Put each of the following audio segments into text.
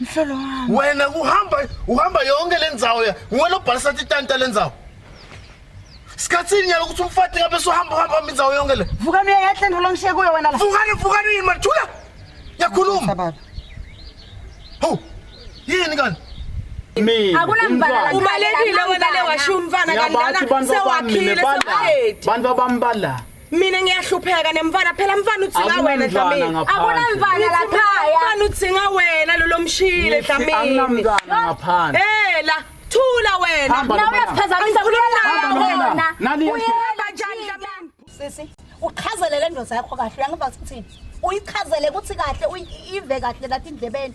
Mhlolo wami. Wena uhamba uhamba yonke lendzawo ya. Wena obhalisa titanta lendzawo. Sikhatsini nyalo ukuthi umfati ngabe sohamba uhamba indzawo yonke le. Vukani uyayahle ndolo ngishiye kuyo wena la. Vukani vukani yini mathula. Yakhuluma. Baba. Ho. Yini kanti? ubalekile wena le washiya umfana kanti lana sewakhile sewahethi bantu abambalana mina ngiyahlupheka nemfana phela mfana uthinga wena Dlamini akunamfana la khaya mfana uthinga wena lo lomshile Dlamini akunamntwana ngaphandle eh la thula wena nawe uyaphazamisa kulona nani uyela njani Dlamini sisi uchazelele indoda yakho kahle uyangiva ukuthi uyichazele ukuthi kahle uyive kahle lathi indlebeni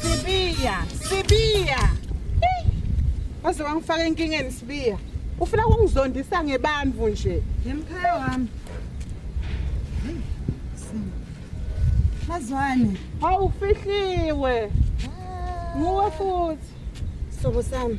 Sibiya, Sibiya. Hey! Waze wangifaka enkingeni Sibiya. Ufuna ukungizondisa ngebamvu nje. Yemkhaya wami. Mazwane. Hawu ufihliwe. Nguwe futhi. Sobo sami.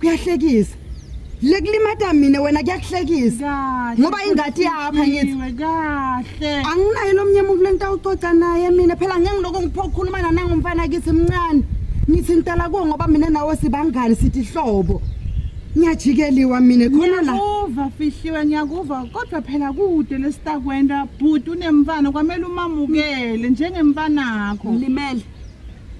kuyahlekisa lekulimata mina wena kuyakuhlekisa ngoba ingati yapha ngithi kahle anginaye lomnye umuntu lengitawucoca naye mina phela ngeke ngiloko ngiphokhuluma nanangumfana kithi mncane ngithi ngitala kuwo ngoba mina nawe sibangani sithi hlobo ngiyajikeliwa mina khona la uva fihliwe ngiyakuva kodwa phela kude lesitakwenda bhuti unemfana kwamele umamukele njengemfanakho limele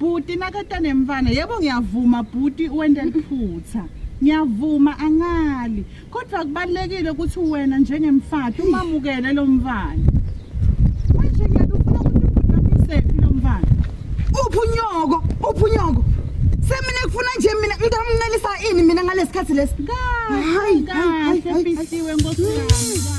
Bhuti nakata nemfana yebo ngiyavuma bhuti wente liphutha ngiyavuma angali kodwa kubalekile ukuthi wena njengemfati umamukele lo mfana manje ngiyakufuna ukuthi bhuti amisephi lo mfana uphunyoko uphunyoko semina kufuna nje mina ngikamncelisa ini mina ngalesikhathi lesi kahle kahle fihliwe nkosi yami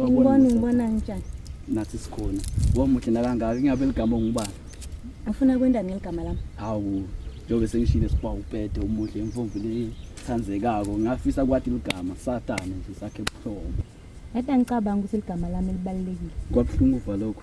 Ngibona ngibona njani? Nathi sikhona. Ngomuhle nakangaka ingabe ligama ngubani? Afuna kwenda ngeligama lami. Hawu, njengoba sengishile siba upete umuhle imfumbi le thandzekako. Ngafisa kwati ligama satane nje sakhe buhlobo. Yadwa ngicabanga ukuthi ligama lami libalekile. Kwabhlungu valokho.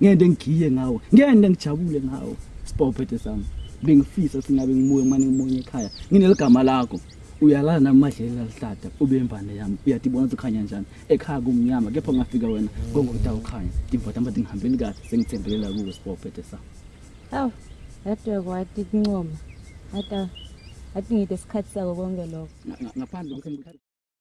ngende ngigiye ngawo ngende ngijabule ngawo sibophethe sami bengifisa singabe ngimuye manje ngimunye ekhaya ngineligama lakho uyalala namadleli lalihlada ube imvane yami uyathi ibona ukuthi ukhanya njani ekhaya kumnyama kepha ungafika wena ngongota ukhanya ndimvata mba ndingihambeli kahle sengithembelela kuwe sibophethe sami awu yadwe kwati kuncoma ata athi ngide isikhathi sako konke lokho ngaphandle ukuthi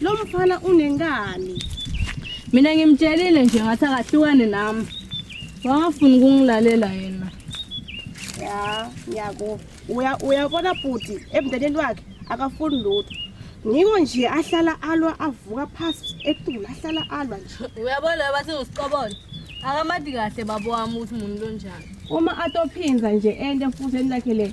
Lo mfana unenkani. Mina ngimtshelile nje ngathi akahlukane nami. Wangafuni ukungilalela yena. Ya, ngiyako. Uya uyabona bhuti emndenini wakhe akafuni lutho. Ngiko nje ahlala alwa avuka phansi etula ahlala alwa nje. Uyabona bathi usiqobona. Akamadi kahle babo wami ukuthi umuntu lonjani. Uma atophinza nje ende futhi enilakhe le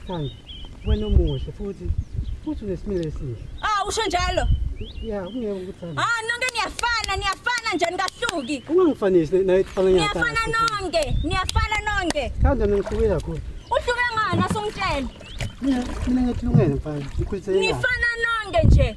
Sithando, wena umuhle futhi futhi unesimilo esihle. Ah, usho njalo? Yeah, ungeke ukuthanda. Ah, nonke niyafana, niyafana nje nikahluki. Ungangifanisi naye kufana nyathi. Niyafana nonke, niyafana nonke. Sithando ningihluke kakhulu. Uhluke ngani asongitshela? Mina mina ngithulungene mfana. Ngikhulise yena. Nifana nonke nje.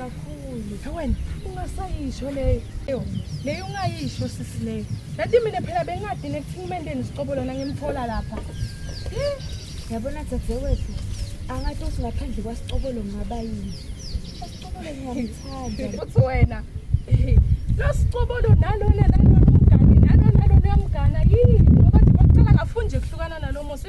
kakhulu wena ungasayisho leyo leyo ungayisho sisi leyo nati mina phela bengadini ekuthini umendeni sicobo lona ngimthola lapha yabona dzadzewethu angathi uthi ngaphandle kwasicobolo ngaba yini asicobolo ngingamthanda uthi wena losicobolo nalona nalona umngane nalona nalona uyamgana yini ngoba nje baqala ngafunje kuhlukana nalo musa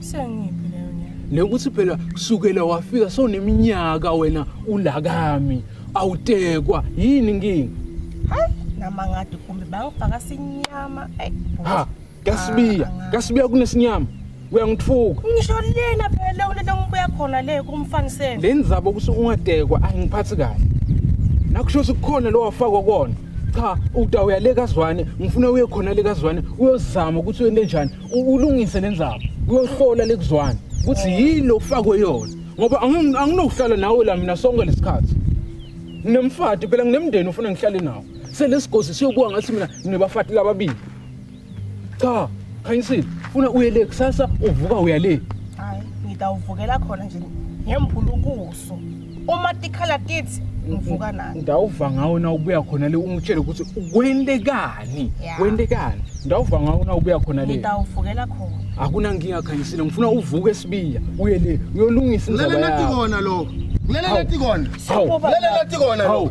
Sengiphi leyo nyanga? Nekuthi phela kusukela wafika soneminyaka wena ulakami awutekwa yini inkinga? Hayi nama ngathi kumbe bangifaka sinyama. Hey. Ha, kasibiya, ah, kasibiya kunesinyama. uyangithuka ngisho lena phela kulento ngibuya khona le kumfanisela le ndzaba ukuthi ungadekwa angiphathi kahle nakusho ukuthi kukhona lo wafakwa kona cha uta uyaleka zwane ngifuna uye khona leka zwane uyozama ukuthi uyente njani ulungise le ndzaba uyohlola lekuzwana ukuthi yini ofakwe yona ngoba angi- anginokuhlala nawe la mina sonke lesikhathi nginemfati phela nginemndeni ufuna ngihlale nawo selesigozi siyobuka ngathi mina nginebafati lababili cha khanyisile funa uye le kusasa uvuka uya le hayi ngitawuvukela khona nje ngembhulukusu Jesu uma tikhala tithi ngivuka nani ndawuva ngawo na ubuya khona le ungitshele ukuthi kwentekani yeah. kwentekani ndawuva ngawo na ubuya khona le ngidawuvukela khona akunankinga khanyisile ngifuna uvuke esibiya uye le uyolungisa indaba yakho lele nathi kona lokho lele nathi kona lele nathi kona lokho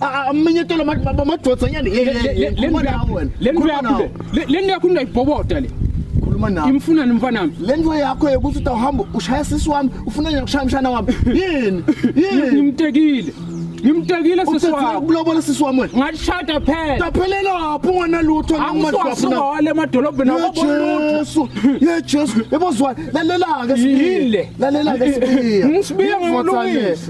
aminyetelo madoda nyani lento yakho ndayibhoboda le khuluma nawe imfuna ni mfana wami le nto yakho yokuthi utawuhamba ushaya sisi wami ufuna nje kushaya mshana wami yini yini ngimtekile ngimtekile sisi wami ukulobola sisi wami wena ngashada phela taphelela lapho ungana lutho ngimashafuna wale emadolobheni awabonutho ye Jesu yebozwa lalela ke sibile lalela ke sibile ngisibiye ngolungisa